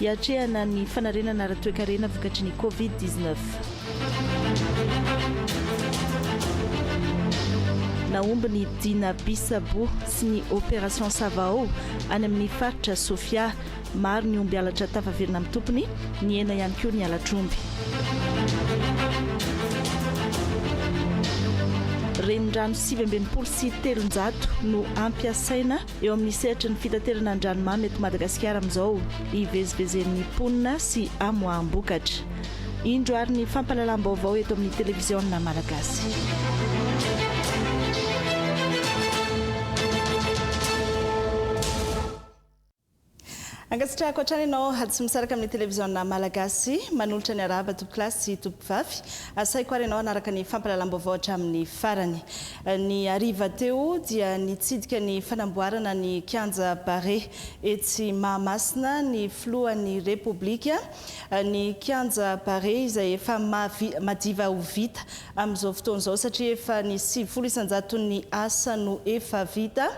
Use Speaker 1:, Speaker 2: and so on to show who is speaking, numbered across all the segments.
Speaker 1: Hiatrehana ny fanarenana ara-toekarena vokatry ny Covid dix neuf. Nahomby ny Dina Bisabo sy ny Opération Savao any amin'ny faritra Sofia. Maro ny omby halatra tafaverina amin'ny tompony, nihena ihany koa ny halatr'omby. Renirano sivy amby enimpolo sy telonjato no hampiasaina. eo amin'ny sehatry ny fitaterana an-dranomamy eto Madagasikara amin'izao ivezivezen'ny mponina sy amoaham-bokatra. Indro ary ny fampahalalam-baovao eto amin'ny televiziona malagasy. Ankasitrahako hatrany ianao tsy misaraka amin'ny televiziona malagasy. Manolotra ny harahaba tompokolahy sy tompokovavy. Asaiko ary ianao hanaraka ny fampalalam-baovao hatramin'ny farany. Ny hariva teo dia nitsidika ny fanamboarana ny kianja Barea etsy Mahamasina ny filohan'ny Repoblika. Ny kianja Barea izay efa madiva ho vita amin'izao fotoana izao satria efa ny sivifolo isan-jaton'ny asa no efa vita.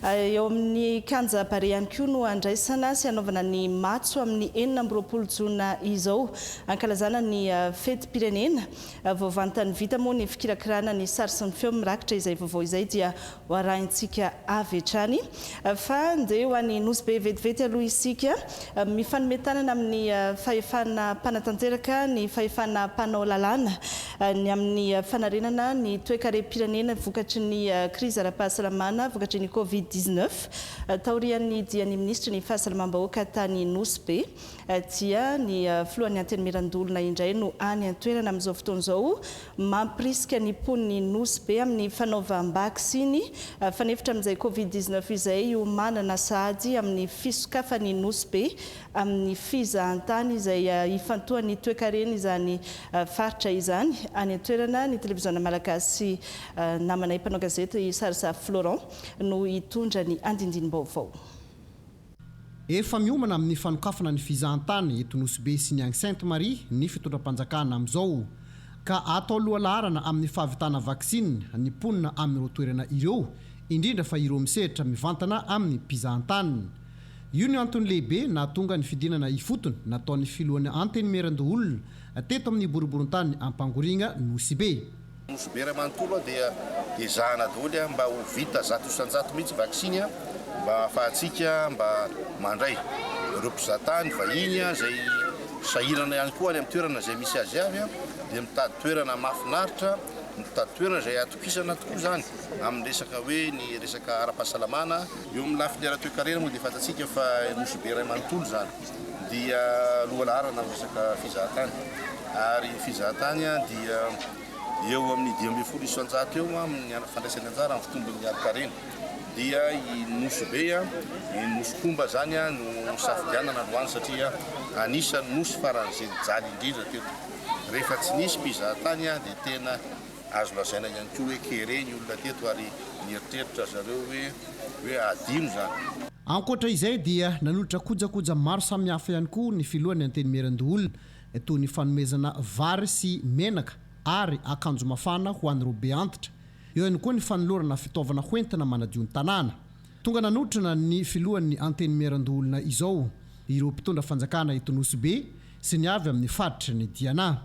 Speaker 1: Eo amin'ny Kianja Barea ihany koa no handraisana sy hanaovana ny matso amin'ny enina amby roapolo jona izao hankalazana ny fetim-pirenena. Vao vantany vita moa ny fikirakirana ny sary sy ny feo mirakitra izay vaovao izay dia Ho arahintsika avy hatrany. Fa ndeha ho any Nosy Be vetivety aloha isika. Mifanome tanana amin'ny fahefana mpanatanteraka ny fahefana mpanao lalàna ny amin'ny fanarenana ny toekarem-pirenena vokatry ny krizy ara-pahasalamana vokatry ny Covid dix-neuf. Taorian'ny dian'ny minisitry ny fahasalamam-bahoaka tany Nosy Be dia ny filohan'ny Antenimieran-doholona indray no any an-toerana amin'izao fotoana izao mampirisika ny mponin'ny Nosy Be amin'ny fanaovam-baksiny fanefitra amin'izay Covid dix-neuf izay hiomanana sahady amin'ny fisokafan'i Nosy Be amin'ny fizahantany izay hifantohan'ny toekareny izany faritra izany any an-toerana ny Televiziona Malagasy Namanay Mpanao gazety Sarisary Florent no hitondra ny andindinim-baovao.
Speaker 2: Efa miomana amin'ny fanokafana ny fizahantany eto Nosy Be sy ny any Sainte Marie ny fitondram-panjakana amin'izao, ka atao lohalaharana amin'ny fahavitana vaksiny ny mponina amin'ireo toerana ireo, indrindra fa ireo misehatra mivantana amin'ny mpizahantany. Io no antony lehibe nahatonga ny fidinana ifotony nataon'ny filohan'ny Antenimierandoholona teto amin'ny boriborintany Ampangoriagna Nosy Be. Nosy Bera
Speaker 3: manontolo dia ezahana daholo mba ho vita zato isan-jato mihitsy vaksiny mba hahafahantsika mba mandray ireo mpizatany vahiny izay sahirana ihany koa any amin'ny toerana izay misy azy avy dia mitady toerana mahafinaritra mitady toerana izay atokisana tokoa izany amin'ny resaka hoe ny resaka ara-pahasalamana eo amin'ny lafiny ara-toekarena moa dia fantatsika fa Nosy Bera manontolo izany. dia lohalaharana amin'ny resaka fizahantany ary ny fizahantany dia eo amin'ny dimy ambin'ny folo isan-jato eo amin'ny fandraisany anjara amin'ny fitombon'ny harinkarena dia i Nosy Be a, i Nosy Komba zany a no safidianana androany satria anisan'ny Nosy faran'izay nijaly indrindra teto. Rehefa tsy nisy mpizahantany a dia tena azo lazaina ihany koa hoe kere ny olona teto ary nieritreritra zareo hoe hoe adino zany. Ankoatra izay dia
Speaker 2: nanolotra kojakoja maro samihafa ihany koa ny filohan'ny Antenimierandoholona toy ny fanomezana vary sy menaka ary akanjo mafana ho an'ireo be antitra. Eo ihany koa ny fanolorana fitaovana hoentina manadio ny tanàna. Tonga nanotrona ny filohan'ny Antenimierandoholona izao ireo mpitondra fanjakana eto Nosy-Be sy ny avy amin'ny faritry ny Diana.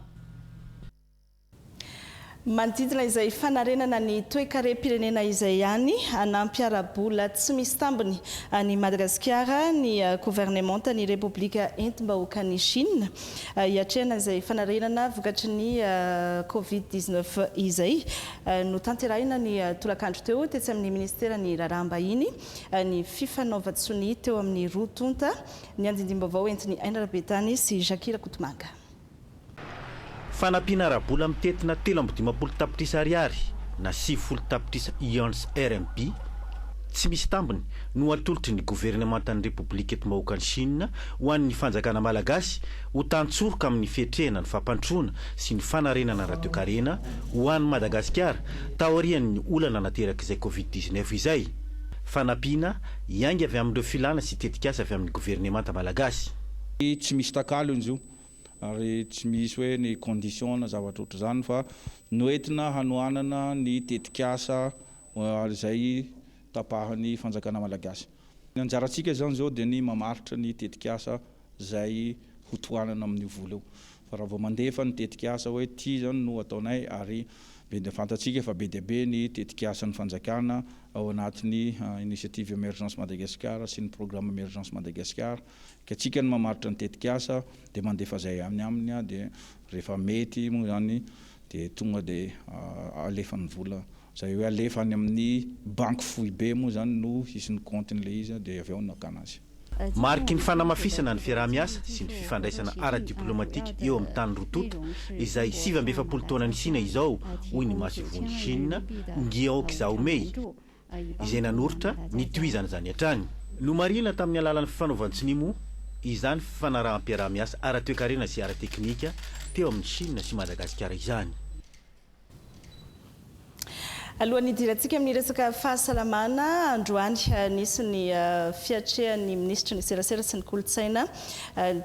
Speaker 1: Manodidina izay fanarenana ny toekarem-pirenena izay ihany, hanampy ara-bola tsy misy tambiny an'i Madagasikara ny governemantan'ny Repoblika entim-bahoakan'i Chine, hiatrehana izay fanarenana vokatry ny Covid dix-neuf izay. Notanterahina ny tolakandro teo, tetsy amin'ny minisiteran'ny Raharaham-bahiny, ny fifanaovan-tsonia teo amin'ny roa tonta, ny andindim-baovao entin'i Aina Rabetany sy Jackie Rakotomanga. Fanampiana
Speaker 4: ara-bola mitentina telo amby dimampolo tapitrisa ariary na sivifolo tapitrisa Yuans RMB tsy misy tambiny no atolotry ny governemantan'ny Repoblika Enti-bahoakan'i Shina ho an'ny fanjakana malagasy ho tantsoroka amin'ny fiatrehana ny fampandrosoana sy ny fanarenana ara-toekarena ho an'i Madagasikara taorian'ny olana naterak'izay Covid dix-neuf izay. Fanampiana hiainga avy amin'ireo filàna sy tetikasa avy amin'ny governemanta malagasy. Tsy misy
Speaker 5: takalony zo ary tsy misy hoe ny condition na zavatra ohatr'izany fa noentina hanohanana ny tetikasa izay tapahan'ny fanjakana malagasy. Ny anjarantsika izany izao dia ny mamaritra ny tetikasa izay ho tohanana amin'io vola io fa raha vao mandefa ny tetikasa hoe ity izany no ataonay ary be dia fantatsika fa be dia be ny tetikasan'ny fanjakana ao anatin'ny initiative Emergence Madagascar sy ny programme Emergence Madagascar Ka tsika no mamaritra ny tetik'asa dia mandefa zay any aminy aho dia rehefa mety moa zany dia tonga dia alefa ny vola zay hoe alefa any amin'ny banky foibe moa zany no hisy ny compte-ny le izy dia avy ao no akana azy. Mariky ny
Speaker 4: fanamafisana ny fiaraha-miasa sy ny fifandraisana ara-diplaomatika eo amin'ny tany roa tonta izay sivy amby efapolo taona nisiana izao, hoy ny Masovon'i Shina, Ngiaoki Zaomei, izay nanoritra ny tohizana izany hatrany. Nomarihina tamin'ny alalan'ny fifanaovan-tsonia moa izany fifanaraham-piaraha-miasa ara-toekarena sy ara-teknika teo amin'i Chine sy Madagasikara izany.
Speaker 1: Alohan'ny hidirantsika amin'ny resaka fahasalamana androany, nisy ny fiatrehan'ny minisitry ny Serasera sy ny kolontsaina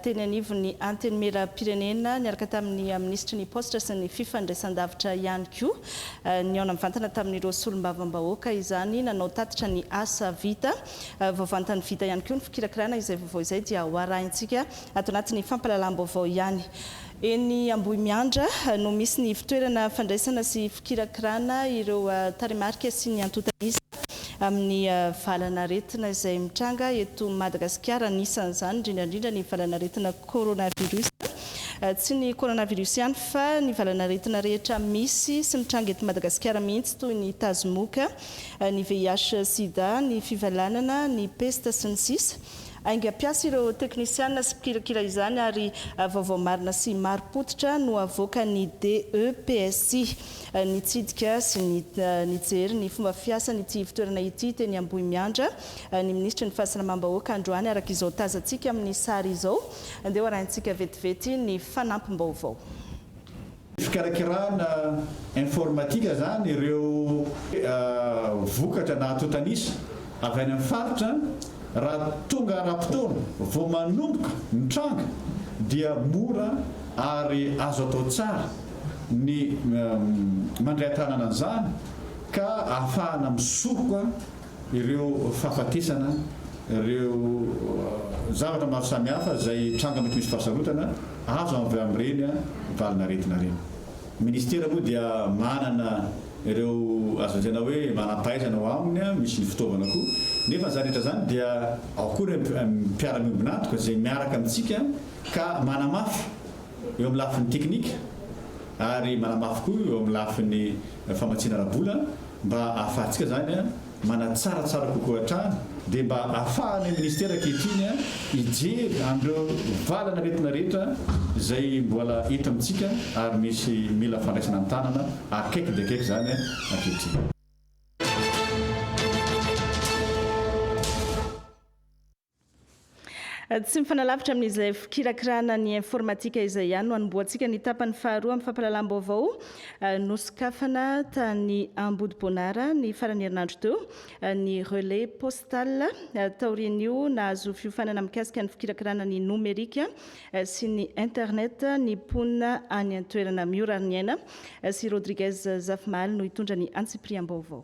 Speaker 1: teny anivon'ny Antenimierampirenena niaraka tamin'ny minisitry ny Paositra sy ny Fifandraisandavitra ihany koa. Nihaona mivantana tamin'ireo solombavambahoaka izany nanao tatitra ny asa vita. Vao vantany vita ihany koa ny fikirakirana izay vaovao izay dia ho arahintsika ato anatin'ny fampahalalam-baovao ihany. Eny Ambohimiandra no misy ny ivontoerana fandraisana sy fikirakirana ireo tarehimarika sy ny antontan'isa. amin'ny valan'aretina izay mitranga eto Madagasikara, anisan'izany indrindra indrindra ny valan'aretina coronavirus. Tsy ny coronavirus ihany fa ny valan'aretina rehetra misy sy mitranga eto Madagasikara mihitsy toy ny tazomoka, ny VIH sida, ny fivalanana, ny pesta sy ny sisa. Aingam-piasa ireo teknisiana sy mpikirakira izany ary vaovao marina sy marim-pototra no avoakan'ny DEPSI. Nitsidika sy nijery ny fomba fiasan'ity ivontoerana ity teny Ambohimiandra ny minisitry ny Fahasalamam-bahoaka androany, araka izao tazantsika amin'ny sary izao. Andeha hoarahintsika vetivety ny fanampim-baovao. Fikarakarana
Speaker 6: informatika izany ireo vokatra nahatotanisa avy any amin'ny faritra raha tonga ara-potoana vao manomboka mitranga dia mora ary azo atao tsara. ny mandray an-tanana an'izany ka ahafahana misoroka ireo fahafatesana, ireo zavatra maro samihafa izay tranga mety misy fahasarotana azo avy amin'ireny valin'aretina ireny. Ny Ministera moa dia manana ireo azo lazaina hoe manam-pahaizana ao aminy, misy ny fitaovana koa, nefa izany rehetra izany dia ao koa ireo mpiara-miombon'antoka izay miaraka amintsika ka manamafy eo amin'ny lafiny teknika ary manamafy koa eo amin'ny lafiny famatsiana ara-bola mba ahafahantsika izany manatsara tsara kokoa hatrany dia mba ahafahanay ministera ankehitriny hijery an'ireo valan'aretina rehetra izay mbola eto amintsika ary misy mila fandraisana an-tanana akaiky dia akaiky izany ankehitriny.
Speaker 1: Tsy mifanalavitra amin'izay fikirakirana ny informatika izay ihany no hanombohantsika ny tapany faharoa amin'ny fampahalalam-baovao nosokafana tany Ambodiboanara ny farany herinandro teo ny Relais Postal taorian'io nahazo fiofanana mikasika ny fikirakirana ny nomerika sy ny internet ny mponina any an-toerana Miorariniaina sy Rodriguez Zafimahaly no hitondra ny antsipiriam-baovao.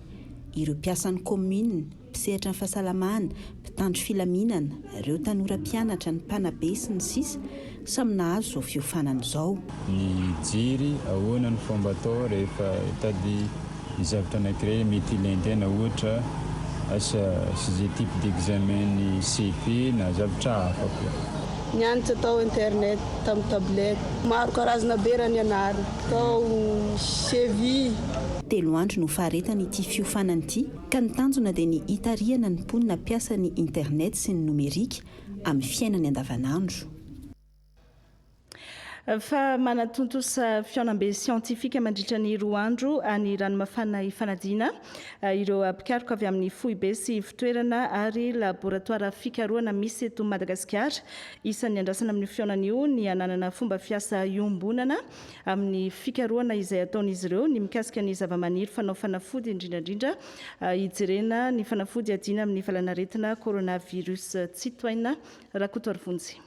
Speaker 7: ireo mpiasan'ny kaominina, mpisehatra ny fahasalamana, mpitandro filaminana, ireo tanora mpianatra, ny mpanabe, sy ny sisa Samy nahazo izao fiofanana izao. Ny jiri,
Speaker 8: ahoana no fomba atao rehefa hitady ny zavatra anankiray hoe mety ilain'ny tena, ohatra, asa sy izay type d'examen ny CV na zavatra hafa koa. Nianatra tao
Speaker 9: internet tamin'ny tablette. Maro karazana be raha nianarina tao CV. Telo
Speaker 7: andro no faharetan' ity fiofanana ity ka ny tanjona dia ny hitarihana ny mponina mpiasa ny internet sy ny nomerika amin'ny fiainany andavanandro.
Speaker 1: Fa manatontosa fihaonambe siantifika mandritra ny roa andro any Ranomafana hifanadiana ireo mpikaroka avy amin'ny foibe sy ivontoerana ary laboratoara fikarohana misy eto Madagasikara. Isan'ny andrasana amin'io fihaonana io ny hananana fomba fiasa iombonana amin'ny fikarohana izay ataon'izy ireo ny mikasika ny zavamaniry fanao fanafody, indrindra indrindra hijerena ny fanafody hiadiana amin'ny valanaretina coronavirus. Tsitohaina Rakotoarivonjy.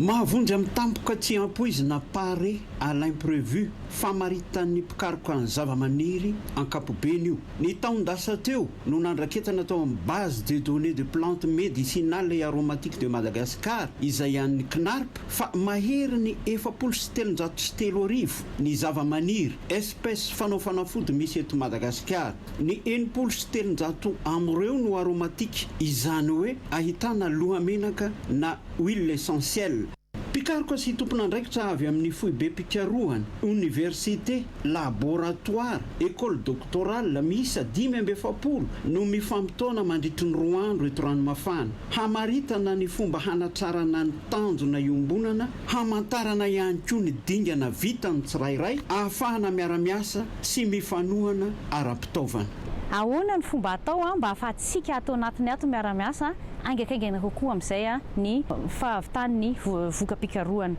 Speaker 10: Mahavonjy amin'ny tampoka tsy ampoizina Pare à l'imprévu, famaritan'ny mpikaroka ny zavamaniry ankapobeny io. Ny taon-dasa teo no nandraketana tao amin'ny Base de données de plantes médicinales et aromatiques de Madagascar, izay an'ny CNARP, fa mahery ny efapolo sy telonjato sy telo arivo ny zava-maniry, espèces, fanao fanafody misy eto Madagasikara. Ny enimpolo sy telonjato am'ireo no aromatique, izany hoe ahitana lohamenaka na huiles essentielles. Mpikaroka sy tompon'andraikitra avy amin'ny foibem-pikarohana, oniversite, laboratoara, école doctorale, miisa dimy amby efapolo no mifampitaona mandritry ny roa andro eto Ranomafana, hamaritana ny fomba hanatrarana ny. Tanjona iombonana hamantarana ihany koa ny dingana vitan'ny tsirairay ahafahana miara-miasa sy mifanohana ara-pitaovana. Ahoana ny
Speaker 11: fomba atao mba ahafahantsika ato anatiny ato miara-miasa haingankaingana kokoa amin'izay ny fahavitan'ny voka-pikarohana?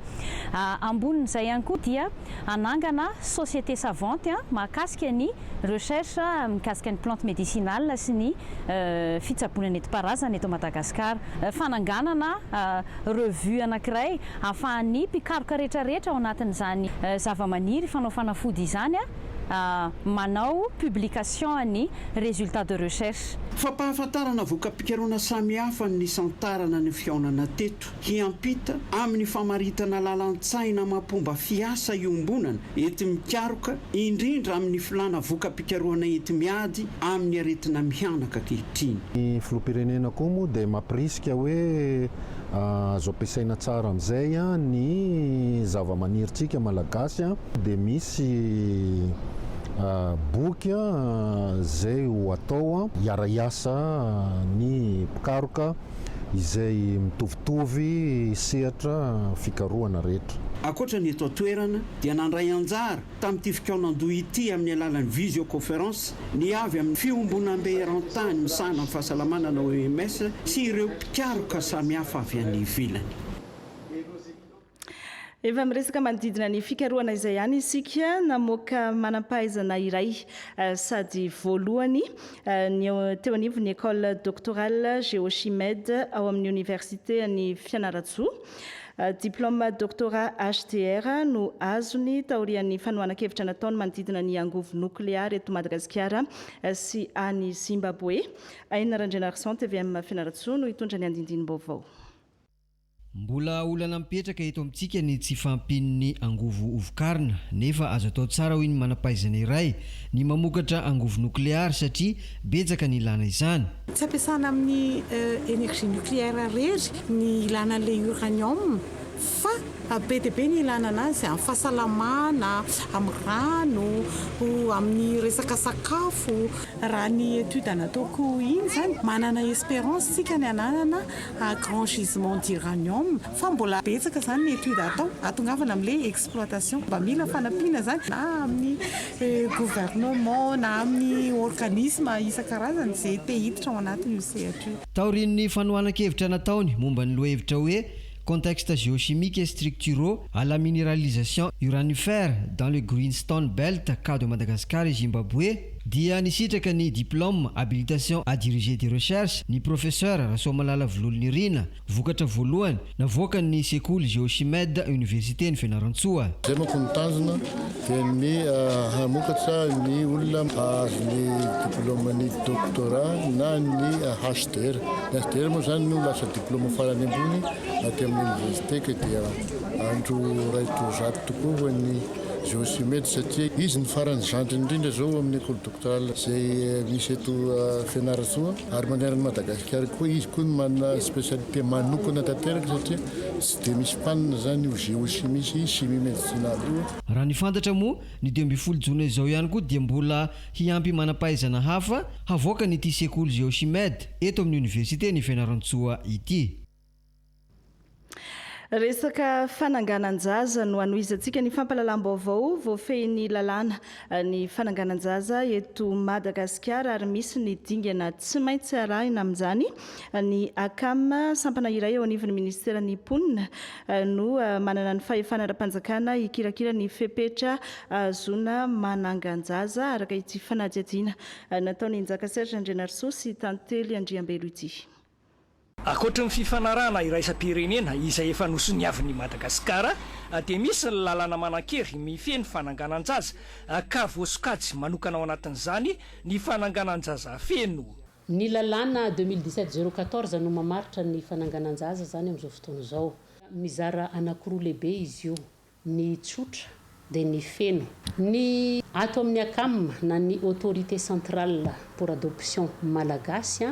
Speaker 11: Ambonin'izay ihany koa dia hanangana société savante mahakasika ny recherche mikasika ny plante médicinale sy ny fitsaboana nentim-paharazana eto Madagasikara. Fananganana revue anankiray ahafahan'ny mpikaroka rehetrarehetra ao anatin'izany zavamaniry fanao fanafody izany manao publication ny resultats de recherche. Fampahafantarana
Speaker 10: voka-pikarohana samihafa ny nisantarana ny fihaonana teto. hiampita amin'ny famaritana lalan-tsaina amam-pomba fiasa iombonana enti-mikaroka, indrindra amin'ny filàna voka-pikarohana enti-miady amin'ny aretina mihanaka ankehitriny. Ny Filoham-pirenena
Speaker 12: koa moa dia mampirisika hoe azo ampiasaina tsara amin'izay ny zava-manirintsika Malagasy, dia misy boky izay ho atao hiara-hiasa ny mpikaroka izay mitovitovy sehatra fikarohana rehetra. Ankoatra ny eto
Speaker 10: an-toerana dia nandray anjara tamin'ity fikaonandoha ity amin'ny alalan'ny visioconference ny avy amin'ny Fiombonambe Erantany misahana ny Fahasalamana na OMS sy ireo mpikaroka samihafa avy any ivelany.
Speaker 1: Efa miresaka manodidina ny fikarohana izay ihany isika. Namoaka manam-pahaizana iray eh, sady voalohany eh, ny eo- teo anivon'ny École Doctorale Géochimed ao amin'ny Oniversite an'i Fianarantsoa. Eh, Diplôme Doctorat HDR no azony taorian'ny fanohanan-kevitra nataony manodidina ny angovo nokleary eto Madagasikara eh, sy any Zimbabwe. Aina Randrianarison, tvm Fianarantsoa no hitondra ny andindinim-baovao.
Speaker 13: Mbola olana mipetraka eto amintsika ny tsy fahampian'ny angovo ho vokarina, nefa azo atao tsara hoy ny manam-pahaizana iray ny mamokatra angovo nokleary satria betsaka ny ilana izany. Tsy ampiasana amin'ny
Speaker 14: energie nucléaire irery ny ilana an'ilay uranium fa be dia be ny ilana an'azy amin'ny fahasalamana, amin'ny rano, amin'ny resaka sakafo. Raha ny étude nataoko iny izany, manana espérance isika ny hananana à grand gisement d'uranium fa mbola betsaka zany ny étude atao atongavana amle exploitation mba mila fanampiana zany na amin'ny gouvernement na amin'ny organisme isan-karazany ze te hiditra ao anatin' io sehatra io. Taorian'ny
Speaker 13: fanohanan-kevitra nataony momba ny lohahevitra hoe Contextes géochimiques et structuraux à la minéralisation uranifer dans le Greenstone Belt cas de Madagascar et Zimbabwe, dia nisitraka ny diplôme habilitation à diriger des recherches ny Professeur Rasoamalala Vololo Nirina, vokatra voalohany navoakan'ny sekoly Géochimed Oniversiten'i Fianarantsoa. Izay manko ny tanjona
Speaker 15: dia ny hamokatra ny olona hahazo ny diplôman'ny doctorat na ny HDR. Ny HDR moa izany no lasa diplôma farany ambony aty amin'ny Oniversite ka dia andro iray toa zato tokoa ho an'ny Josimedy satria izy no farany zandriny indrindra zao amin'ny ecole doctorale izay misy eto Fianarantsoa ary manerana an'i Madagasikara koa izy koa no manana spécialité manokana tanteraka satria tsy dia misy mpanina zany io géochimie sy chimie médicinale io. Raha ny fantatra moa,
Speaker 13: ny dimy ambin'ny folo jona izao ihany koa dia mbola hiampy manam-pahaizana hafa havoakan'ity sekoly Geochimed eto amin'ny oniversiten'i Fianarantsoa ity.
Speaker 1: Resaka fananganan-jaza no hanohizantsika ny fampahalalam-baovao voafehin'ny lalàna ny fananganan-jaza eto Madagasikara ary misy ny dingana tsy maintsy arahina amin'izany. Ny ACAM, sampana iray eo anivon'ny minisiteran'ny mponina, no manana ny fahefana ara-panjakana hikirakira ny fepetra ahazoana manangan-jaza araka ity fanadihadiana nataon'i Njaka Serge Andrianarisoa sy Tantely Andriambelo ity.
Speaker 16: Ankoatry ny fifanarahana iraisam-pirenena izay efa nosoniavin'i Madagasikara, dia misy ny lalàna manan-kery mifehy ny fananganan-jaza, ka voasokajy manokana ao anatin'izany ny fananganan-jaza feno. Ny lalàna
Speaker 17: deux mille dix-sept zéro quatorze no mamaritra ny fananganan-jaza izany amin'izao fotoana izao. Mizara anankiroa lehibe izy io, ny tsotra dia ny feno. Ny ato amin'ny Acam na ny Autorité Centrale pour Adoption Malagasy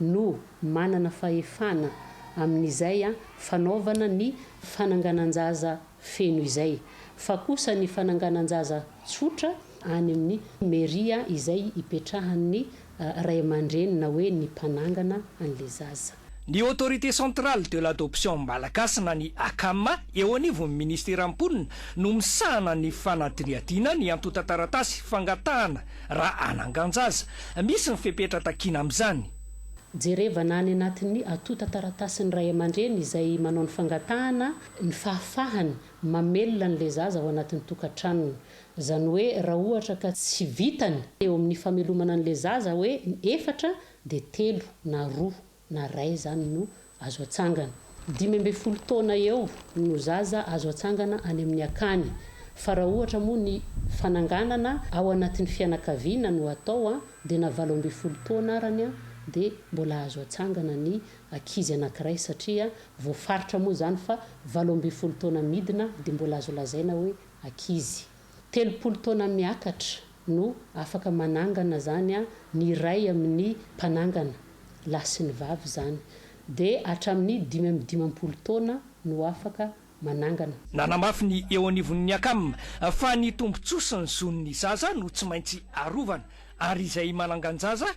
Speaker 17: no manana fahefana amin'izay fanaovana ny fananganan-jaza feno izay, fa kosa ny fananganan-jaza tsotra any amin'ny Mairie izay ipetrahan'ny ray aman-dreny na hoe ny mpanangana an'ilay zaza. Ny Autorité
Speaker 16: Centrale de l'Adoption Malagasy na ny ACAM eo anivon'ny Ministeran'ny Mponina no misahana ny fanadinihadiana ny antontan-taratasy fangatahana raha hanangan-jaza. Misy ny fepetra takiana amin'izany. Jerevana
Speaker 17: any anatin'ny antontan-taratasin'ny ray aman-dreny izay manao ny fangatahana ny fahafahany mamelona an'ilay zaza ao anatin'ny tokantranony. Izany hoe raha ohatra ka tsy vitany eo amin'ny famelomana an'ilay zaza hoe efatra dia telo na roa na ray izany no azo atsangana. Dimy ambin'ny folo taona eo no zaza azo atsangana any amin'ny akany, fa raha ohatra moa ny fananganana ao anatin'ny fianakaviana no atao dia na valo ambin'ny folo taona arany dia mbola azo atsangana ny ankizy anankiray satria voafaritra moa izany fa valo ambin'ny folo taona midina dia mbola azo lazaina hoe ankizy. Telopolo taona miakatra no afaka manangana zany an ny iray amin'ny mpanangana, lahy sy ny vavy zany, de hatramin'ny dimy amby dimampolo taona no afaka manangana. Nanamafy ny
Speaker 16: eo anivon'ny Acam fa ny tombontsoa sy ny zon'ny zaza no tsy maintsy arovana ary izay manangan-jaza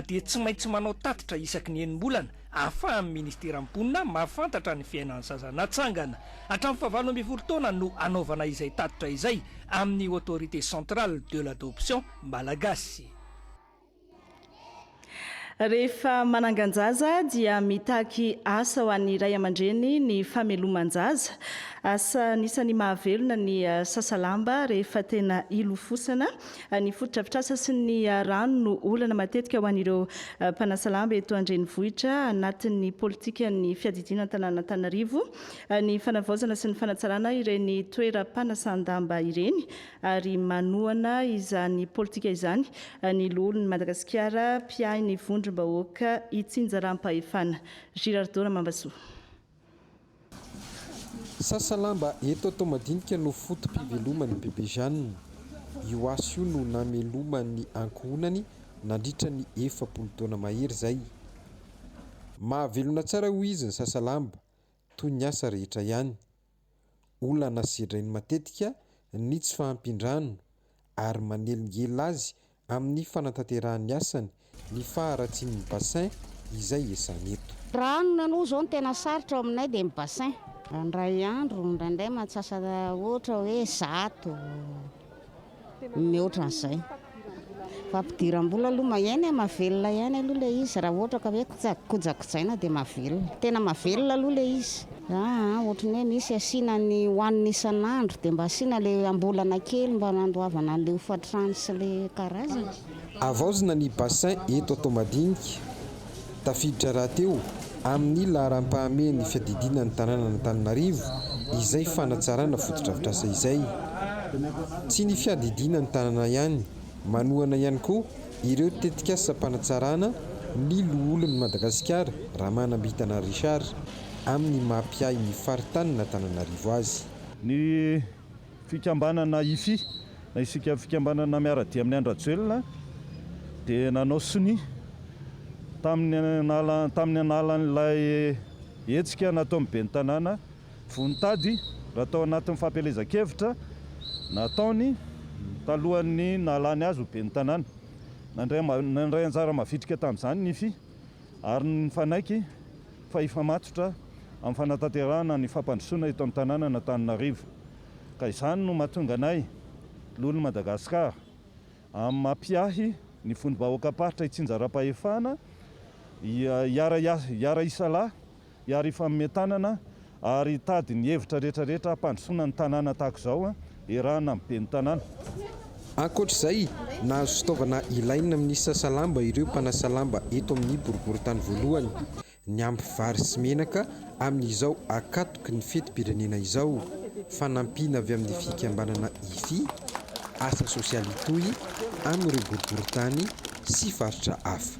Speaker 16: dia tsy maintsy manao tatitra isaky ny enim-bolana ahafahan'ny Ministeran'ny Mponina mahafantatra ny fiainan'ny zaza natsangana hatramin'ny fahavalo ambin'ny folo taona no anaovana izay tatitra izay amin'ny Autorité Centrale de l'Adoption Malagasy.
Speaker 1: Rehefa manangan-jaza dia mitaky asa ho an'ny ray aman-dreny ny fameloman-jaza. Asa anisan'ny mahavelona ny sasalamba rehefa tena hilofosana Ny fotodrafitrasa sy ny rano no olana matetika ho an'ireo mpanasa lamba eto an-drenivohitra anatin'ny politikan'ny fiadidiana an-tanàn'Antananarivo ny fanavaozana sy ny fanatsarana ireny toeram-panasan-damba ireny ary manohana izany politika izany ny loholon'i Madagasikara mpiahy ny vondrom-bahoaka itsinjaram-pahefana Girardeau Ramambasoa.
Speaker 18: Sasa lamba eto atao madinika no foto-piveloman'i Bebe Jeanne. Io asa io no nameloman'ny ankohonany nandritra ny efapolo taona mahery izay. Mahavelona tsara hoy izy ny sasa lamba, toy ny asa rehetra ihany. Olana sedrainy matetika ny tsy fahampian-drano ary manelingelina azy amin'ny fanatanterahan'ny asany ny faharatsian'ny bassin izay ezahana eto. Raha ny nanoa izao ny
Speaker 19: tena sarotra ao aminay dia ny bassin. Indray andro, indraindray mantsasa ohatra hoe zato, mihoatra an'izay. Fampidiram-bola aloha maheno e, mahavelona ihany aloha ilay izy raha ohatra ka hoe Tsy azo kojakojaina dia mahavelona. Tena mahavelona aloha ilay izy. Aa ohatry ny hoe misy asiana ny hohanina isan'andro dia mba asiana ilay ambolana kely mba handoavana an'ilay hofantrano sy ilay karazany. Havaozina ny
Speaker 18: bassin eto Toamadinika. Tafiditra rahateo amin'ny laharam-pahamehan'ny fiadidiana ny tanànan'Antananarivo izay fanatsarana fotodrafitrasa izay. Tsy ny fiadidiana ny tanàna ihany. Manohana ihany koa ireo tetikasam-panatsarana ny loholon'i Madagasikara, Ramanambitana Richard, amin'ny maha mpiahy ny faritanin'Antananarivo azy. Ny
Speaker 20: fikambanana Hifi, na Isika Fikambanana Miara-dia amin'i Andry-Rajoelina, dia nanao sonia tamin'ny tamin'ny analan'ilay hetsika nataon'ny ben'ny tanàna, Vao nitady raha tao anatin'ny fampielezan-kevitra nataony talohan'ny nahalany azy ho ben'ny tanàna. Nandray anjara mavitrika tamin'izany ny fi ary nifanaiky fa hifamatotra amin'ny fanatanterahana ny fampandrosoana eto amin'ny tanànan'Antananarivo. Ka izany no mahatonga anay Lolon'i Madagasikara amin'ny maha mpiahy ny vondrom-bahoakam-paritra itsinjaram-pahefana hiara-hiasa hiara-hisalahy hiaro hifanome tanana ary hitady ny hevitra rehetra rehetra hampandrosoana ny tanàna tahaka izao iarahana amin'ny ben'ny tanàna. Ankoatra
Speaker 18: izay, nahazo fitaovana ilaina amin'ny sasa lamba ireo mpanasa lamba eto amin'ny boriborintany voalohany, niampy vary sy menaka amin'izao ankatoky ny fetim-pirenena izao. Fanampiana avy amin'ny fikambanana Ifi, asa sosialy Itoy, amin'ireo boriborintany sy faritra hafa.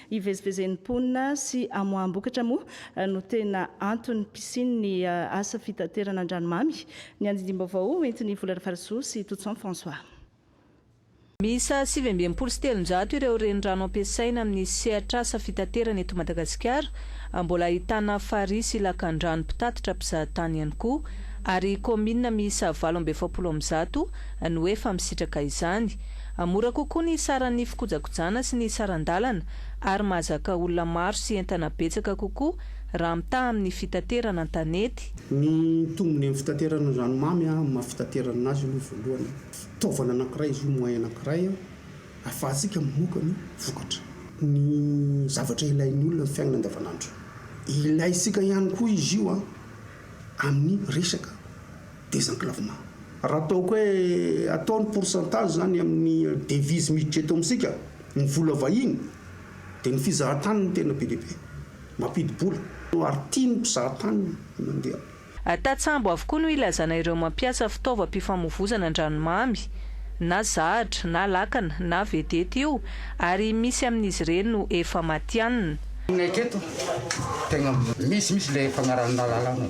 Speaker 1: Hivezivezen'ny mponina sy hamoaham-bokatra moa no tena antony fisian'ny asa fitaterana an-dranomamy. Ny andindim-baovao ho entin'i Vola Rafarisoa sy Toutson François.
Speaker 21: Miisa sivy amby enimpolo sy telonjato ireo renirano ampiasaina amin'ny sehatr'asa fitaterana eto Madagasikara. Mbola ahitana farihy sy lakandrano mpitatitra mpizahatany ihany koa, ary kaominina miisa valo amby efapolo amin'ny zato no efa misitraka izany. Mora kokoa ny saran'ny fikojakojana sy ny saran-dalana ary mahazaka olona maro sy entana betsaka kokoa raha mitaha amin'ny fitaterana an-tanety. Ny tombony
Speaker 10: amin'ny fitaterana ny ranomamy amin'ny maha fitaterana azy aloha voalohany, fitaovana anankiray izy io, moyen anankiray ahafahantsika mamoaka ny vokatra, ny zavatra ilain'ny olona amin'ny fiainana andavanandro. Ilaintsika ihany koa izy io amin'ny resaka désenclavement. Raha ataoko hoe atao ny pourcentage zany amin'ny devise miditra eto amintsika, ny vola vahiny, dia ny fizahan-tany no tena be dia be mampidi-bola, ary tia ny mpizahatany ny mandeha. Tantsambo
Speaker 21: avokoa no ilazana ireo mampiasa fitaovam-pifamovoizana an-dranomamy, na zahatra, na lakana, na vedety io, ary misy amin'izy ireny no efa matianina. Aminay teto,
Speaker 22: tegna misy mihitsy le fagnarahana lalana.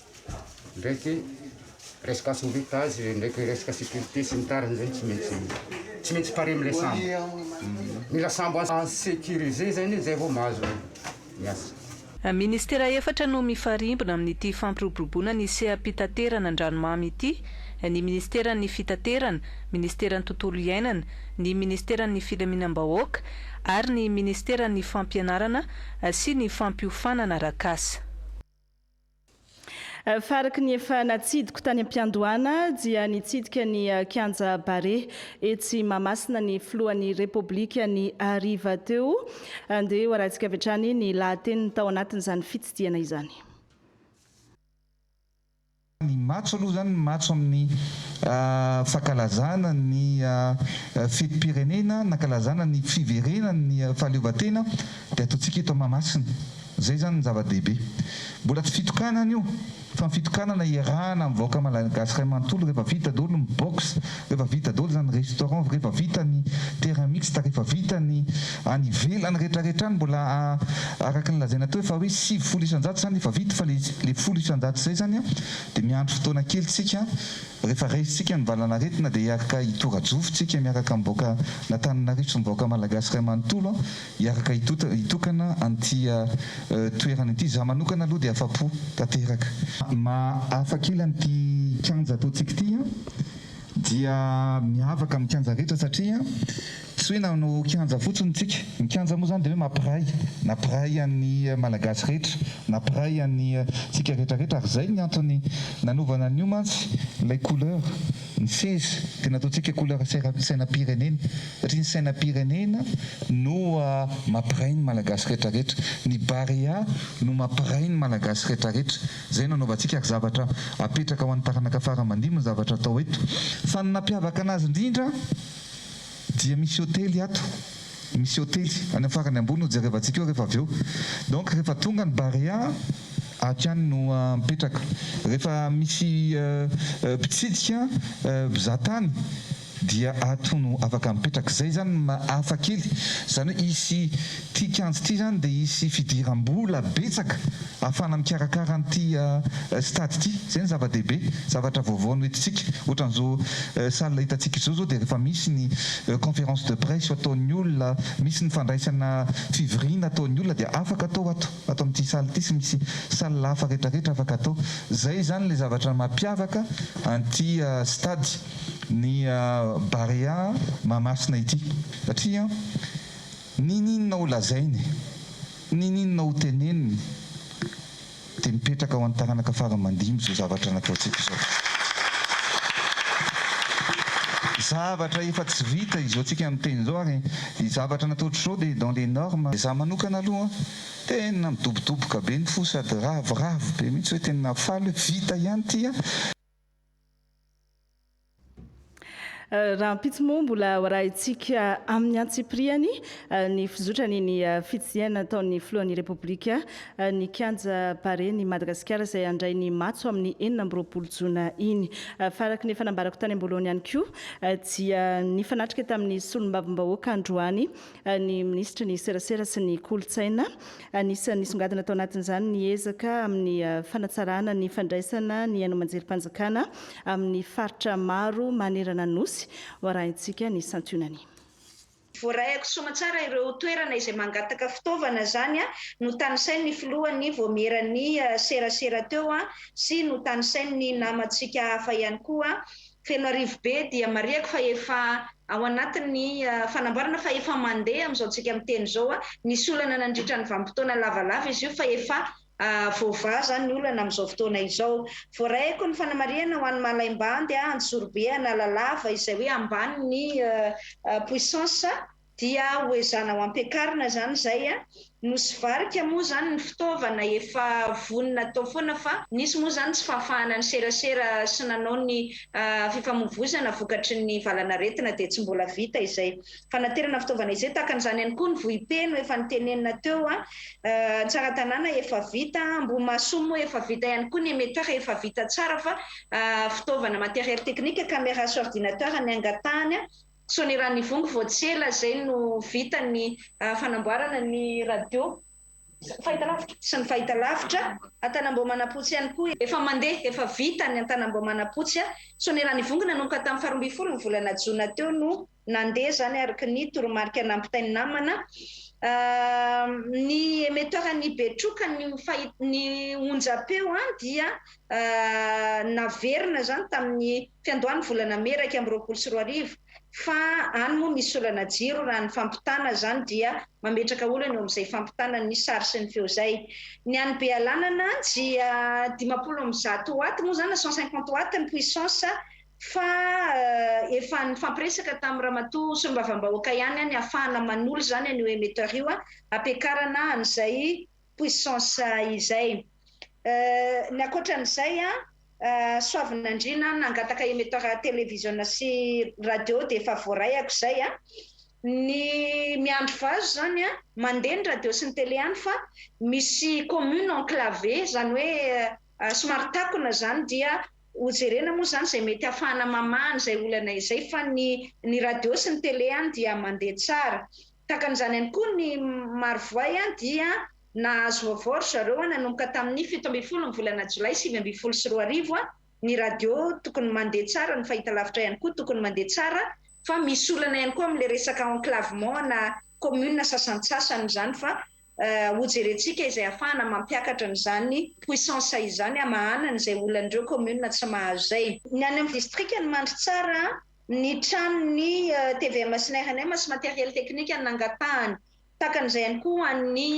Speaker 22: ndraiky resaka sauvetage ndraiky resaka sécurité sy ny tariny zay tsy maintsy tsy maintsy pare amle sambo mila sambo à sécuriser zay anie zay vao mahazo ny asa Ministera
Speaker 21: efatra no mifarimbona amin'ity fampiroboroboana ny seha-pitaterana an-dranomamy ity, ny Ministeran'ny Fitaterana, Ministeran'ny Tontolo iainana, ny Ministeran'ny Filaminam-bahoaka ary ny Ministeran'ny Fampianarana sy ny Fampiofanana Arak'asa.
Speaker 1: Faraky ny efa natsidiko tany am-piandohana dia nitsidika ny kianja Barea etsy Mahamasina ny filohan'ny Repoblika ny hariva teo. Andeha hoarahintsika avy hatrany ny lahateniny tao anatin'izany fitsidihana izany.
Speaker 23: Ny matso aloha izany ny matso amin'ny fankalazana ny fetim-pirenena nankalazana ny fiverenan'ny fahaleovantena dia ataontsika eto Mahamasina. Izay izany no zava-dehibe. Mbola tsy fitokanana io fa ny fitokanana iarahana amin'ny vahoaka malagasy iray manontolo rehefa vita daholo ny box, rehefa vita daholo izany restaurant, rehefa vita ny terrain mixte, rehefa vita ny any ivelany rehetrarehetra any mbola araka ny lazaina teo efa hoe sivifolo isan-jato izany efa vita fa ilay folo isan-jato izay izany dia miandry fotoana kely isika rehefa raisintsika ny valan'aretina dia hiarka hitora-jofo isika miaraka amin'ny vahoaka an'Antananarivo sy ny vahoaka malagasy iray manontolo hiaraka hitokana an'ity toerana ity. Izaho manokana aloha dia afa-po tanteraka. Ny maha-hafa kely an'ity kianja ataontsika ity dia miavaka amin'ny kianja rehetra satria tsy hoe nanao kianja fotsiny isika. Ny kianja moa izany dia hoe mampiray, nampiray an'ny Malagasy rehetra, nampiray antsika rehetra rehetra ary izay ny antony nanaovana an'io mantsy ilay couleur Ny seza dia nataontsika couleur sainam-pirenena satria ny sainam-pirenena no mampiray ny Malagasy rehetra rehetra. Ny Barea no mampiray ny Malagasy rehetra rehetra. Izay no anaovantsika ary zavatra apetraka ho an'ny taranaka fara aman-dimby ny zavatra atao eto. Fa ny nampiavaka anazy indrindra. Dia misy hotely ato, misy hotely any amin'ny farany ambony hojerevantsika eo rehefa avy eo. Donc rehefa tonga ny Barea, hatrany no mipetraka. Rehefa misy mpitsidika, mpizaha tany, dia ato no afaka mipetraka. Izay izany ny maha hafa kely, izany hoe hisy Ity kianja ity izany dia hisy fidiram-bola betsaka ahafahana mikarakara an'ity stade ity. Izay no zava-dehibe, zavatra vaovao noentintsika. Ohatran'izao salle hitantsika izao izao dia rehefa misy ny conférence de presse ataon'ny olona, misy ny fandraisana fivoriana ataon'ny olona dia afaka atao ato, ato amin'ity salle ity sy misy salle hafa rehetra rehetra afaka atao. Izay izany ilay zavatra mampiavaka an'ity stade ny Barea Mahamasina ity satria N'ininona ho lazainy, n'ininona ho teneniny, dia mipetraka ho an'ny taranaka fara aman-dimy izao zavatra nataontsika izao. Zavatra efa tsy vita izao tsika miteny izao, ary ny zavatra natao hatrizao dia dans les normes. Za manokana aloha tena midobodoboka be ny fo sady ravoravo be mihitsy hoe tena faly hoe vita ihany ity an!
Speaker 1: Rahampitso moa mbola ho arahintsika amin'ny antsipiriany ny fizotran' ny fitsidihana nataon'ny filohan'ny Repoblika ny kianja Barea-n'i Madagasikara izay handray ny matso amin'ny enina amby roapolo jona iny. Fa araka ny efa nambarako tany am-boalohany ihany koa dia nifanatrika tamin'ny solombavambahoaka androany ny minisitry ny serasera sy ny kolontsaina. Anisan'ny nisongadina tao anatin'izany ny ezaka amin'ny fanatsarana ny fandraisana ny haino aman-jerim-panjakana amin'ny faritra maro manerana ny Nosy. Ho arahintsika ny santionany. Voarahiko
Speaker 2: soamatsara ireo toerana izay mangataka fitaovana izany notanisain' ny filohan' ny vaomieran' ny serasera teo sy notanisain' ny namantsika hafa ihany koa Fenoarivo be dia marihako fa efa ao anatin'ny fanamboarana fa efa mandeha amin'izao tsika miteny izao. Nisy olana nandritra ny vanim-potoana lavalava izy io fa efa voavaha izany ny olana amin'izao fotoana izao. Voarahiko ny fanamarihana ho an'i Malaimbandy, Anjozorobe, Analalava izay hoe ambany ny puissance. Dia hoezanao ampiakarina zany izay a! Nosy varika moa zany ny fitaovana efa vonona atao foana fa nisy moa zany tsy fahafahana niserasera sy nanao ny fifamoivozana vokatry ny valanaretina dia tsy mbola vita izay fanaterana fitaovana izay, tahaka an'izany ihany koa ny vohipeno efa nitenenina teo a! Tsaratanàna efa vita, Ambohimahasoa moa efa vita ihany koa ny emetera efa vita tsara fa fitaovana matériel technique, caméra sy ordinateur ny angatahany a! Soaniranivongo vao tsy ela izay no vita ny fanamboarana ny radio fahitalavitra sy ny fahitalavitra Antanambao Manapotsy ihany koa. Efa mandeha, efa vita ny Antanambao Manapotsy. Soaniranivongo nanomboka tamin'ny faharoa ambin'ny folo ny volana jona teo no nandeha izany araka ny toromarika nampitain'ny namana. Ny emeteuran'ny Betroka ny onjam-peo dia naverina izany tamin'ny fiandohan'ny volana mey iraika amby roapolo sy roa arivo fa any moa misy olana jiro raha ny fampitana izany dia mametraka olana eo amin'izay fampitana ny sary sy ny feo zay ny any Bealanana dia dimampolo amby zato watt moa izany na cent cinquante watt ny puissance fa efa nifampiresaka tamin'ny ramatoa solombavambahoaka ihany ny hafahana manolo izany an'io emetteur io hampiakarana an'izay puissance izay. Ny ankoatran'izay an, soavinandriana an, nangataka emetteur televiziona sy radio dia efa voaraiako izay an. Ny miandry vazo izany an, mandeha ny radio sy ny tele any fa misy commune enclavée izany hoe somary takona izany dia ho jerena moa izany izay mety hahafahana mamaha an'izay olana izay fa ny ny radio sy ny tele any dia mandeha tsara. Takan'izany ihany koa ny Marovoay dia nahazo vaovao ry zareo nanomboka tamin'ny fito ambin'ny folo ny volana jolay sivy ambin'ny folo sy roa arivo, ny radio tokony mandeha tsara, ny fahitalavitra ihany koa tokony mandeha tsara fa misy olana ihany koa amin'ilay resaka enclavement ana commune sasantsasany izany fa hojerentsika izay ahafahana mampiakatra an'izany puissance izany hamahanana izay olan'ireo communes tsy mahazo izay. Ny any amin'ny distrikan'i Mandritsara, ny tranon'ny tvm SNRNM sy matériel technique nangatahany. Takana izay ihany koa ho an'ny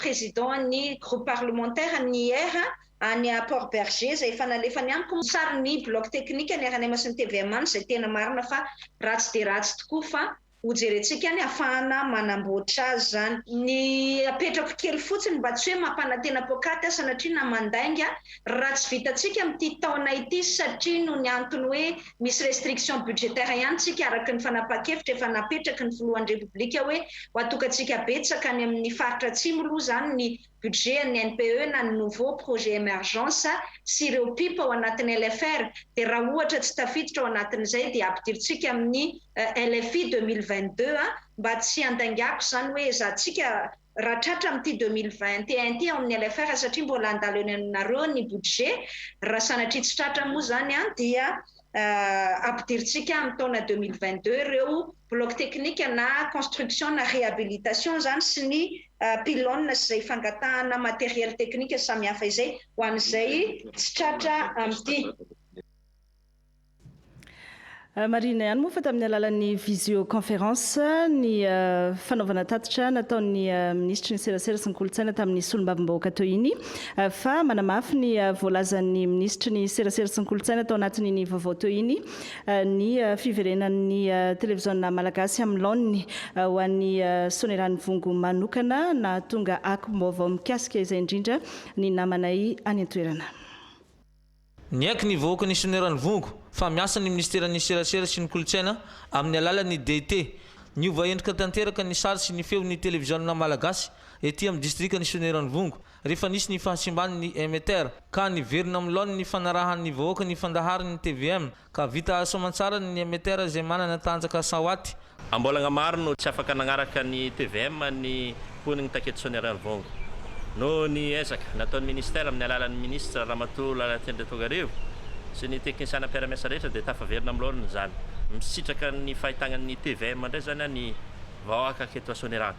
Speaker 2: président-n'ny groupe parlementaire ny IR any Port Bergé izay efa nalefany amiko ny sarin'ny bloc technique ny rnm sy ny tvm any izay tena marina fa ratsy dia ratsy tokoa fa Ho jerentsika ny hafahana manamboatra azy izany. Ny apetrako kely fotsiny mba tsy hoe mampanantena poakaty sanatria na mandainga raha tsy vitantsika amin'ity taona ity satria noho ny antony hoe misy restriction budgétaire ihany tsika araka ny fanapahan-kevitra efa napetraky ny filohan'ny repoblika hoe ho atokantsika betsaka any amin'ny faritra atsimo loha izany ny budget an'ny NPE na ny nouveau projet emergence sy ireo pip ao anatin'ny LFR dia raha ohatra tsy tafiditra ao anatin'izay dia ampidirintsika amin'ny LFI 2022 mba tsy handaingako izany hoe ezahantsika raha tratra amin'ity 2021 ity ao amin'ny LFR satria mbola handalo eny aminareo ny budget raha sanatria tsy tratra moa izany dia ampidirintsika amin'ny taona 2022 ireo bloc teknika na construction na réhabilitation izany sy ny pylônes sy izay fangatahana matériel teknika samihafa izay ho an'izay tsy tratra amin'ity
Speaker 1: Marihina ihany moa fa tamin'ny alalan'ny visioconférence ny fanaovana tatitra nataon'ny minisitry ny serasera sy ny kolontsaina tamin'ny solombavambahoaka teo iny fa manamafy ny voalazan'ny minisitry ny serasera sy ny kolontsaina tao anatin'iny vaovao teo iny ny fiverenan'ny televiziona malagasy amin'ny laoniny ho an'ny Sonerany Vongo manokana nahatonga akom-baovao mikasika izay indrindra ny namanay any an-toerana.
Speaker 3: Niaiky ny vahoaka ny Sonerany Vongo fa miasa ny Minisiteran'ny Serasera sy ny Kolontsaina amin'ny alalan'ny DIT. Niova endrika tanteraka ny sary sy ny feon'ny televiziona malagasy ety amin'ny distrikan'ny Sonerany Vongo Rehefa nisy ny fahasimban' ny Emeter, ka niverina amin'ny laoniny ny fanarahan' ny vahoaka ny fandaharan' ny tvm, ka vita asa aman-tsara ny Emeter izay manana tanjaka Sawaty, Am-bolagna maro
Speaker 4: no tsy afaka nagnaraka ny tvm ny mponin'i Taketsony Ariary Vao. Noho ny ezaka nataon'ny Ministera amin'ny alalan'ny Minisitra Ramatoa Lalatiana Tongarivo sy ny teknisiana mpiara-miasa rehetra dia tafaverina amin'ny laoniny izany. Misitraka ny fahitagnan'ny tvm indray izany ny vahoaka aketo Soanieragna.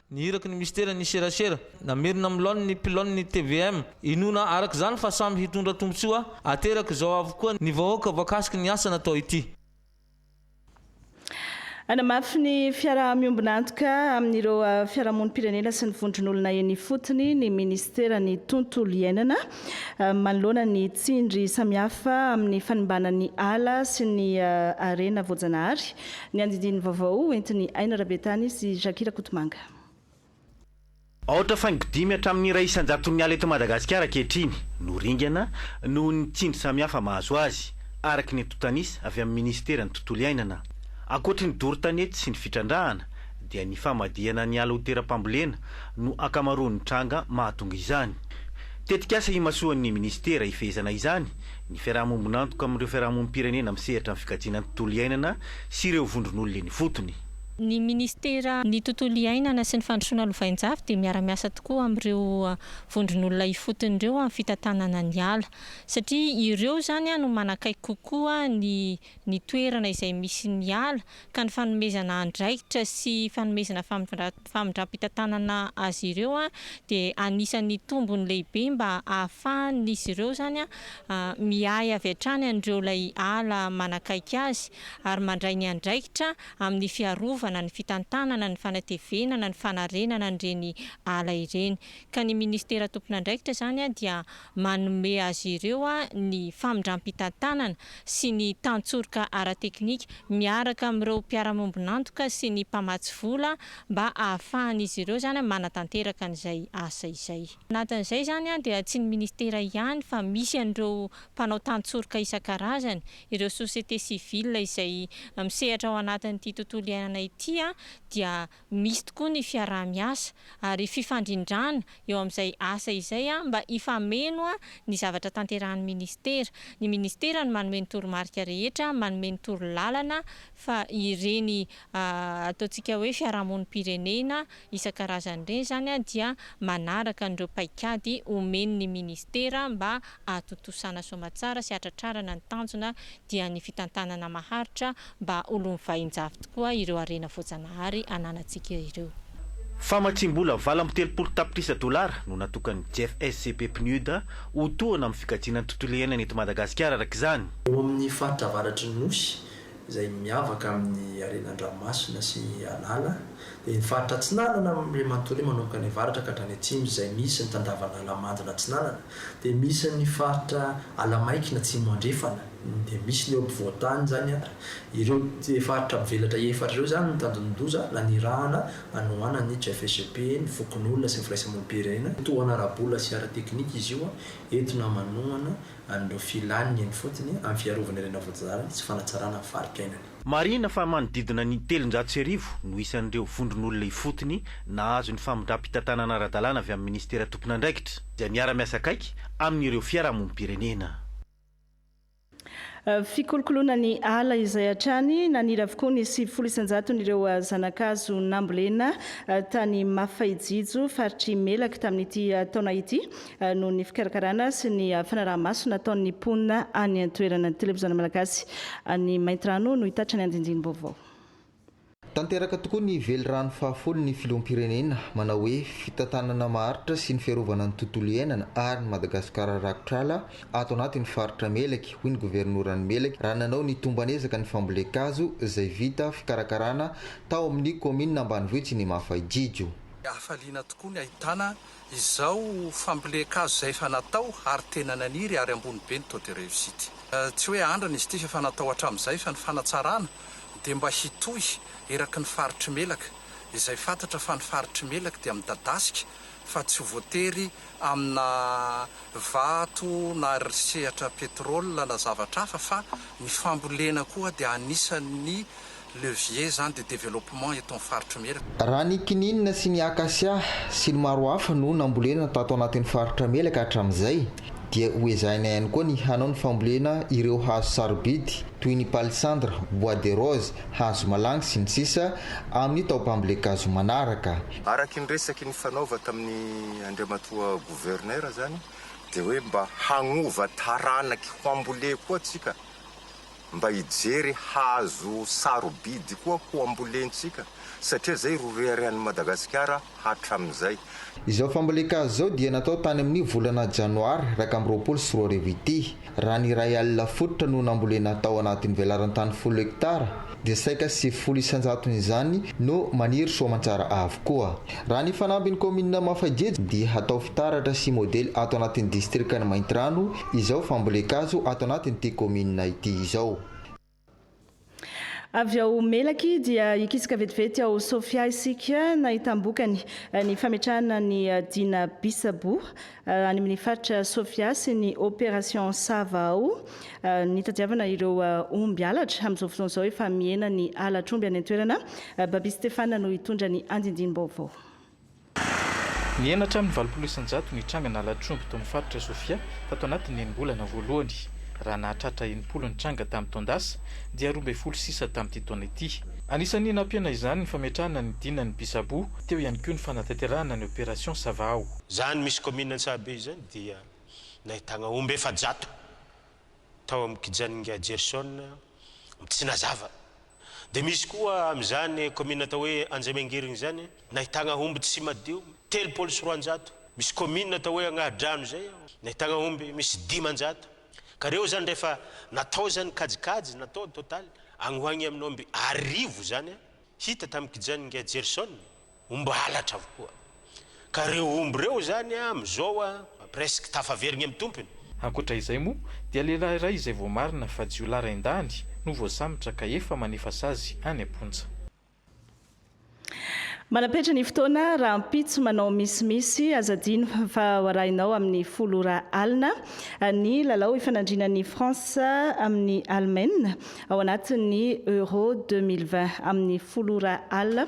Speaker 3: Ny iraky ny Mistera ny serasera, namerina amin'ny laoniny ny mpilaoniny ny tvm. Inoana araka izany fa samy hitondra tombontsoa aterak' izao avokoa ny vahoaka voakasiky ny asa natao ity. Hanamafy
Speaker 1: ny fiaraha-miombon'antoka amin'ireo fiarahamonim-pirenena sy ny vondron'olona eny ifotony ny Minisitera ny Tontolo iainana manoloana ny tsindry samihafa amin'ny fanimbàna ny ala sy ny harena voajanahary. Ny andidiany vaovao hoentin'i Aina Rabetany sy Jackie Rakotomanga.
Speaker 5: Aotra faingo dimy hatramin'ny iray isan-jaton'ny ala eto Madagasikara ankehitriny no ringana noho ny tsindry samihafa mahazo azy, araka ny antontanisa avy amin'ny minisiteran'ny Tontolo iainana. Ankoatry ny doro tanety sy ny fitrandrahana, dia ny famadihana ny ala ho teram-pambolena no ankamaroan'ny tranga mahatonga izany. Tetikasa imasoan'ny Minisitera hifehezana izany ny fiarahamombon'antoka amin'ireo fiarahamonim-pirenena misehatra amin'ny fikajiana ny tontolo iainana sy ireo vondron'olona eny ifotony. Ny Minisitera
Speaker 24: ny tontolo iainana sy ny fandrosoana lovainjafy dia miara-miasa tokoa amin'ireo vondron'olona ifotony ireo amin'ny fitantanana ny ala satria ireo izany no manakaiky kokoa ny ny toerana izay misy ny ala ka ny fanomezana andraikitra sy fanomezana famindram-pitantanana azy ireo dia anisan'ny tombony lehibe mba ahafahan'izy ireo izany miahy avy hatrany an'ireo ilay ala manakaiky azy ary mandray ny andraikitra amin'ny fiarovana, ny fitantanana, ny fanatevenana, ny fanarenana an'ireny ala ireny ka ny Ministera tompon'andraikitra izany dia manome azy ireo ny famindram-pitantanana sy ny tantsoroka ara-teknika miaraka amin'ireo mpiara-miombon'antoka sy ny mpamatsy vola mba ahafahan'izy ireo izany manatanteraka an'izay asa izay. Anatin'izay izany dia tsy ny Ministera ihany fa misy an'ireo mpanao tantsoroka isan-karazany, ireo société civile izay misehatra ao anatin'ity tontolo iainana ity dia ho misy tokoa ny fiaraha-miasa ary fifandrindrana eo amin'izay asa izay mba hifameno ny zavatra tanterahin'ny Ministera. Ny Ministera no manome ny toromarika rehetra, manome ny torolalana fa ireny ataontsika hoe fiarahamonim-pirenena isan-karazany ireny izany dia manaraka an'ireo paikady omen'ny Ministera mba hahatontosana soamantsara sy hahatratrarana ny tanjona dia ny fitantanana maharitra mba ho loan'ny vahin-javy tokoa ireo harena voajanahary ananantsika ireo. Famatsiam-bola
Speaker 5: valo amby telopolo tapitrisa dolara no natokan'ny GFSCP PNUD ho tohana amin'ny fikajiana ny tontolo iainana eto Madagasikara araka izany. Eo amin'ny faritra
Speaker 6: avaratry ny Nosy, izay miavaka amin'ny harena an-dranomasina sy an'ala, dia ny faritra atsinanana amin'ireo manontolo io manomboka any avaratra ka hatrany atsimo izay misy ny tandavan'Alamadina atsinanana, Dia misy ny faritra Alamaikina Atsimo Andrefana, dia misy ny eo ampovoan-tany izany an, ireo faritra mivelatra efatra ireo izany no tanjondoza nanirahana hanohana ny CFSP, ny fokonolona sy ny firaisamonim-pirenena. Tohana ara-bola sy ara-teknika izy io an, entina manohana an'ireo filàny eny fotsiny amin'ny fiarovana ireny avoadazarana sy fanatsarana ny faritra iainany. Marihina fa
Speaker 5: manodidina ny telonjato sy arivo no isan'ireo vondron'olona ifotony nahazo ny famindram-pitantanana ara-dalàna avy amin'ny Minisitera tompon'andraikitra, izay miara-miasa akaiky amin'ireo fiarahamonim-pirenena.
Speaker 1: Fikolokoloana ny ala izay hatrany naniry avokoa ny sivifolo isan-jaton'ireo zanakazo nambolena tany Mafaijijo, faritr'i Melaky tamin'ity taona ity, noho ny fikarakarana sy ny fanaraha-maso nataon'ny mponina any an-toerana. Ny Televiziona Malagasy any Maintirano no hitatitra ny andinindini-baovao.
Speaker 7: Tanteraka tokoa ny Velirano fahafolo ny Filoham-pirenena, manao hoe fitantanana maharitra sy ny fiarovana ny tontolo iainana ary ny Madagasikara rakotr'ala ato anatin'ny faritra Melaky, hoy ny Governoran'i Melaky raha nanao ny tomban'ezaka ny fambolen-kazo izay vita fikarakarana tao amin'ny kaominina ambanivohitry ny Mafaidrijo. Hafaliana
Speaker 8: tokoa ny ahitana Izao fambolen-kazo izay efa natao ary tena naniry ary ambony be ny taux de réussite. Tsy hoe andrana izy ity fa efa natao hatramin'izay fa ny fanatsarana dia mba hitohy eraky ny faritr'i Melaka izay fantatra fa ny faritr'i Melaka dia midadasika fa tsy voatery amina vato na sehatra pétrole na zavatra hafa fa ny fambolena koa dia anisan'ny levier zany de développement eto am faritry mela. Raha ny kininina
Speaker 7: sy ny acacia sy ny maro hafa no nambolena tato anatin'ny faritra mela ka hatramin'izay dia ho ezahina ihany koa ny hanao ny fambolena ireo hazo sarobidy toy ny palissandre, bois de rose, hazo malangy sy ny sisa amin'ny taom-pambolen-kazo manaraka. Araky ny resaky
Speaker 9: nifanaova tamin'ny Andriamatoa Gouverneur zany dia hoe mba hagnova taranaky ho amboleha koa tsika. mba hijery hazo sarobidy koa ho ambolentsika satria izay ro reharehan'i Madagasikara hatramin'izay. Izao
Speaker 7: fambolen-kazo izao dia natao tany amin'io volana janoary iraika amby roapolo sy roa arivo ity. Raha ny iray alina fototra no nambolena tao anatin'ny velaran-tany folo hektara dia saika sivifolo isan-jaton'izany no maniry soamantsara avokoa. Raha ny fanambin'ny kaominina Mafajejo dia hatao fitaratra sy modely ato anatin'ny distrikan'i Maintirano izao fambolen-kazo ato anatin'ity kaominina ity izao.
Speaker 1: Avy ao Melaky dia hikisaka vetivety ao Sofia isika nahitam-bokany ny fametrahana ny Dina Bisabo any amin'ny faritra Sofia sy ny Opération Sava ao nitadiavana ireo omby halatra. Amin'izao fotoana izao efa mihena ny halatr'omby any an-toerana. Babis Stephane no hitondra ny andindinim-baovao.
Speaker 25: Nihena hatramin'ny valopolo isan-jato ny tranga nalatr'omby tao amin'ny faritra Sofia tato anatin'ny enim-bolana voalohany. Raha nahatratra enimpolo ny tranga tamin'ny taon-dasa, dia roa ambin'ny folo sisa tamin'ity taona ity. Anisan'ny nampiana izany ny fametrahana ny dinan'ny Bisabo, teo ihany koa ny fanatanterahana ny Opération Savahao. Izany misy kaominina
Speaker 26: Antsahabe izany dia nahitana omby efajato tao amin'ny kijanin'i Ingahy Jerison Mitsinazava. Dia misy koa amin'izany kaominina atao hoe Anjamengirigny izany, nahitagna omby tsy madio telopolo sy roanjato. Misy kaominina atao hoe Agnahadrano izay, nahitagna omby misy dimanjato. Ka ireo izany rehefa natao izany kajikajy natao totaly, agny ho agny amin'ny omby arivo izany, hita tamin'ny kijan'i Ingahy Jerison. Omby halatra avokoa. Ka reo omby reo zany a mizao a presque tafaverigny am tompony. Ankoatra izay moa
Speaker 25: dia lehilahy iray izay voamarina fa jiolahy rain-dahiny no voasambotra ka efa manefa sazy any am-ponja. Manam-petra
Speaker 1: ny fotoana, rahampitso manao misimisy, aza adino fa ho arahinao amin'ny folo ora alina ny lalao ifanandrinan'i France amin'i Allemagne ao anatin'ny Euro deux mille vingt amin'ny folo ora alina.